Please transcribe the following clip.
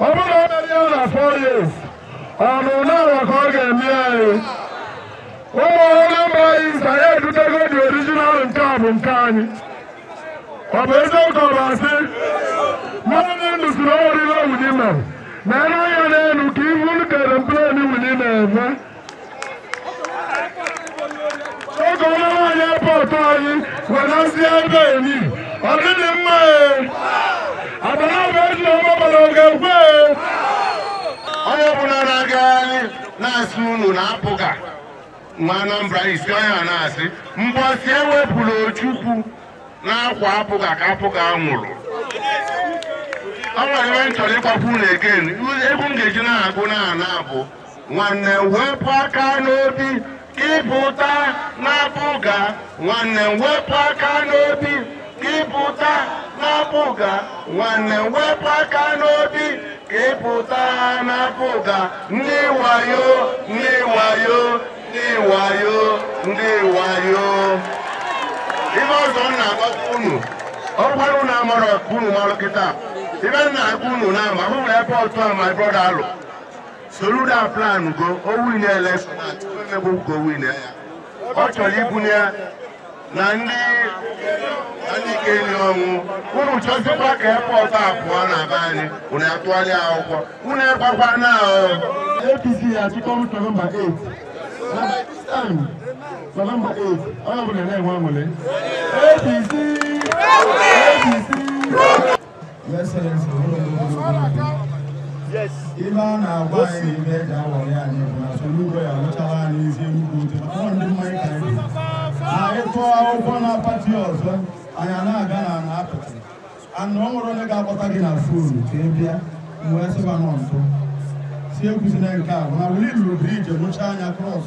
ọ bụrụ na o merie ya na four years ọ bụ n'ala ka ọ ga-eme anyị ụmụ Anambra anyị nta ya edutego the original nke a bụ nke anyị ọ bụ eziokwu ka ọ bụ asị mmadụ ndị ndụ si na o nwere ihe Willie mere na elu anya n'elu ka ị hụ ka aeroplane Willie na-eme oge ọma nwaanyị airport anyị wenazi ebe eri ọ dịghị mma adanaba eji ọma gbara oge kwe onye ọbụla na-aga anyị na-asị unu na APGA nwa Anambra isi onye a na-asị mbọsị e wepụrụ Ojukwu n'akwa APGA ka APGA nwụrụ ọ nwere ihe m chọrọ ịgwakwu unu egee egwu m ga-eji na-agụ na ana abụ nwanne m wepụ aka n'obi ka ị pụta n'APGA nwanne m wepụ aka n'obi ka ị pụta n'APGA nwanne m wepụ aka n'obi ka ị pụta n'APGA ndị wayo ndị wayo ndị wayo ndị wayo ihe ọzọ m na-agwakwa unu ọ bụrụ na unu amarọ ka unu marụ kịta ihe m na-agwa unu na ama hụ na airport a my brother alụ Soludo plan go o winie election bụ ka o winie ya ọ chọrọ ibunye ya na ndị na ndị ike enyi ọ bụrụ unu chọzikwa ka airport a pụọ na be anyị unu atụgharị akwụkwọ unu egbakwa na APC has become November 8. And by this time, November 8, onye ọbụla na-enwe aṅụrị. APC! APC! Your Excellency, ụlọ ogologo Yes. ihe a na-agwa anyị ihe e ji awọrị anyị bụ na Soludo ga-alụchara anyị ezi Enugwu Otu maka ọ ndị mmanya ka anyị bụ. na anyị tụọ akwụkwọ na party ọzọ anyị a na-aga na na apịtị anụ ọ nwere onye ga-akpọta gị na phone ka ị bịa m wee sịba nọ ntụ sị ekwuzina nke a bụ na Willie lụrụ bridge mụchaa anyị cross